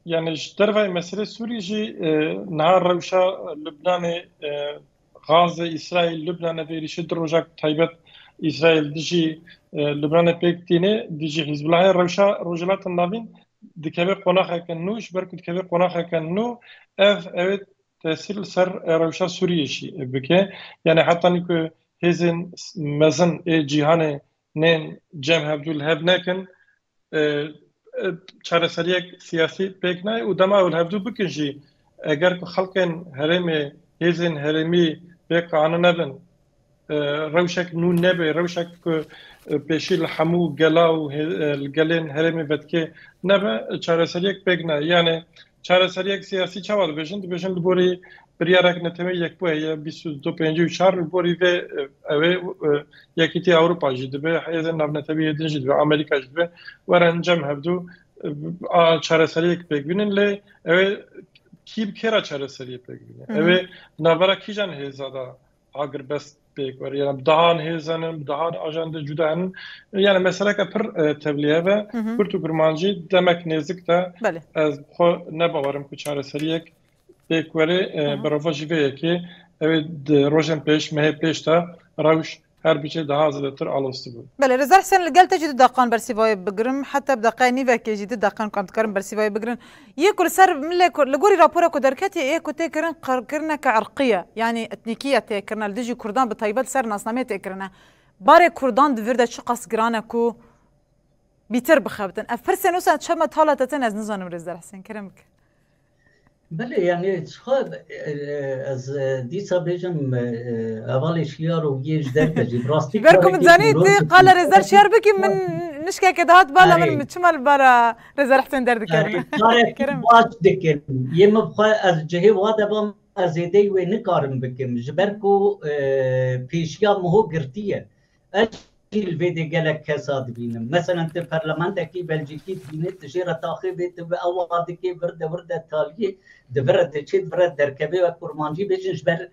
yanî ji dervayê meselê Sûriyê jî niha rewşa Lubnanê Gaze, Îsraîl, Lubnanê vê êrîşê du roja ku taybet Îsraîl dijî Lubnanê pêk tîne, dijî Hîzbulahê rewşa Rojhilatin Navîn dikeve qonaxeke nû, ji ber ku dikeve qonaxeke nû ev ewê tesîr li ser rewşa Sûriyê jî bike. Yanê heta nîku hêzên mezin ê cîhanê Nên cem hevdû li hev nekin çareseriyek siyasî pêk nayê û dema ew li hevdû bikin jî eger ku xelkên herêmê hêzên herêmî vê qane nebin rewşek nû nebê rewşek ku pêşî li hemû gela û li gelên herêmê vedikê nebe çareseriyek pêk nayê yanê Çareseriyek siyasî çawa dibêjin? Dibêjin li gorî biryarek neteweyî yekbûyê ye bîst û du pêncî û çar li gorî vê ew ê Yekîtîya Ewropa jî dibe, hêzên navnetewîyê din jî dibe, Amerîka jî dibe were encam hevdû a çareseriyek pêk bînin lê ew ê kî bi kê re çareseriyê pêk bîne? Ew ê di navbera kîjan hêza de Agirbest pêk were yani bi dehan hêzan in, bi dehan ajan de cuda in. Yani meseleke pir tevlî heve. Kurd û kurmancî demek nêzik de ez bi xwe nebawerim ku çareseriyek pêk were bi rovajî vê yekê ew ê di rojên pêş mehê pêş de rewş her biçe daha zêdetir alostibû. Belê Reza Hisen li gel te jî du deqan bersîvayê bigirim heta bi deqeya nîvekê jî du deqan ku em dikarin bersîvayê bigirin Yê ku li ser milê kurd, li gorî rapora ku derketiye yê ku tê kirin qirkirneke irqî ye, yanî etnîkî ye tê kirine li dijî kurdan bi taybet li ser nasnameyê tê kirine. Barê kurdan di vir de çiqas giran e ku bîtir bixebitin. Ev pirsên wisa çima tala te tên ez nizanim rêz der Hisên Kerim bike. Belê yanî çiqa ez dîsa bêjim hevalê şiyar û yê ji derve jî bi rastî. Ji ber ku min zanî tu qala rêzder şiyar bikî min nişkeke dihat bala min çima li bara Reza Hüseyin derdikerim. Kerem. Baş dikim. Yê min xwe ez cihê wa de bam ez zêdeyî wê nikarim bikim. Ji ber ku pêşiya miho girtî ye. Ez jî li vê dê gelek kesa dibînim. Meselen tu perlementekî Belcîkî dibînî tu jê re taxê bê tu ew wa dikê, wirde wirde talîyê di vir re diçê di vir re derkevê wek kurmancî bêjin ji ber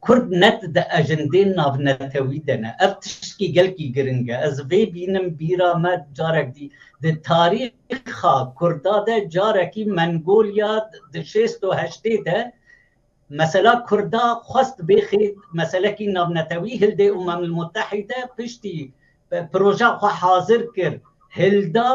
Kurd net di ejendên navnetewî de ne. Ev tiştî gelkî giring e. Ez vê bînim bîra me carek dî di tarîxa Kurda de carekî Mengolya di şêst û heştê de mesela Kurda xwest bêxê meselekî navnetewî hildê Umam el Mutehîde piştî proja xwe hazir kir hilda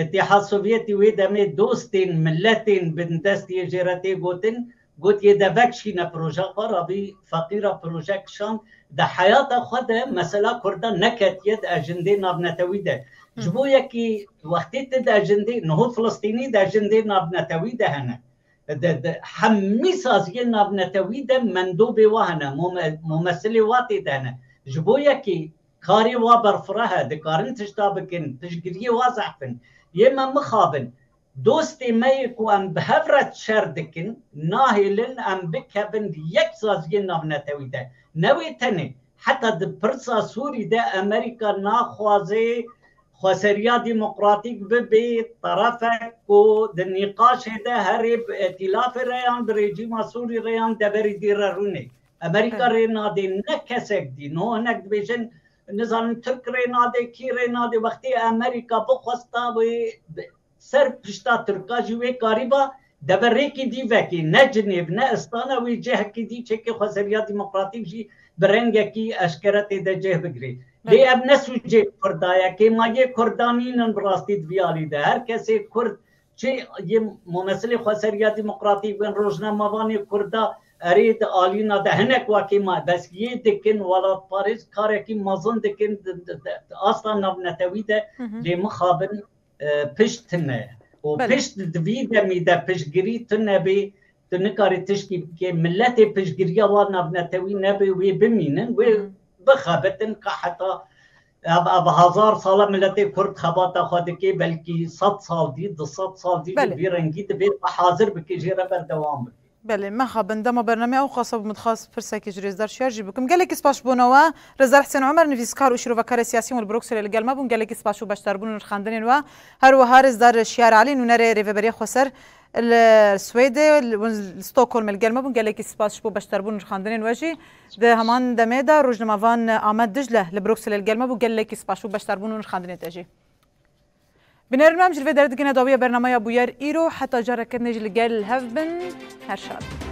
Îtîhad Sovyetî wê demê dostên miletên bindestiyê jê re tê gotin Gotiye de vekişîne proja xwe re bî feqîra proje kişand. Di heyata xwe de mesela kurda neketiye di ejindê navnetewî de. Ji bo yekî wextê ti di ejindê niho filistînî di ejindê navnetewî de hene. Di di hemî saziyên navnetewî de mendobê wa hene, mumesilê wa tê de hene. Ji bo yekî karê wa berfireh e, dikarin tişta bikin, piştgiriyê wa zehf in. Yê me mixabin. Dostê me yê ku em bi hev re şer dikin, nahêlin em bikevin di yek saziyên navnetewî de. Ne wê tenê, heta di pirsa Sûrî de Amerîka naxwaze xweseriya demokratîk bibe terefek ku di nîqaşê de herê bi îtîlafê re yan bi rejîma Sûrî re yan deverî dî re rûnê. Amerîka rê nade ne kesek dî. Niho hinek dibêjin Nizanim Tirk rê nade, kî rê nade, wextê Emerîka bixwesta wê bi ser pişta Tirka jî wê karîba deverêkî dî vekê, ne Cinêv, ne Istana wê cihekî dî çekê xwezeriya demokratîk jî bi rengekî eşkere tê de cih bigirê. Lê ev ne sûcê Kurda ye, kê ma yê Kurda nînin bi rastî di vî alî de. Her kesê Kurd Çi yê momesilê xweseriya demokratîk bên rojnamevanê kurd de erê di alîna de hinek wakê ma bes yê dikin welatparêz karekî mezin dikin di asta navnetewî de lê mixabin pişt tune û pişt di vî demî de piştgirî tune bê tu nikarî tiştî bikê miletê piştgiriya wan navnetewî nebe wê bimînin wê bixebitin ka heta Ev ev hezar sale miletê kurd xebata xwe dike belkî sed sal dî du sed sal dî jî vî rengî divê xwe hazir bike jê re berdewam bike. Belê mexabin dema bernameyê ewqasa bû min dixwest pirsekê ji rêzdar Şiyar jî bikim. Gelekî spas ji bo ne we. Rêzdar Hisên Umer nivîskar û şîrovekarê siyasî Will Brokselê li gel me bûn. Gelekî spas ji bo beşdarbûn û nirxandinên we. Her wiha rêzdar Şiyar Elî nûnerê rêveberiyê Xweser li Swêdê û li Stockholmê li gel me bûn. Gelekî spas ji bo beşdarbûn û nirxandinên we jî. Di heman demê de rojnama van Amed Dicle li Brukselê li gel me bû. Gelekî spas û beşdarbûn û nirxandinê te jî. Binêrin me em ji li vê derê digihine dawiya bernameya bûyer îro heta careke din jî li gel hev bin. Her şad bin.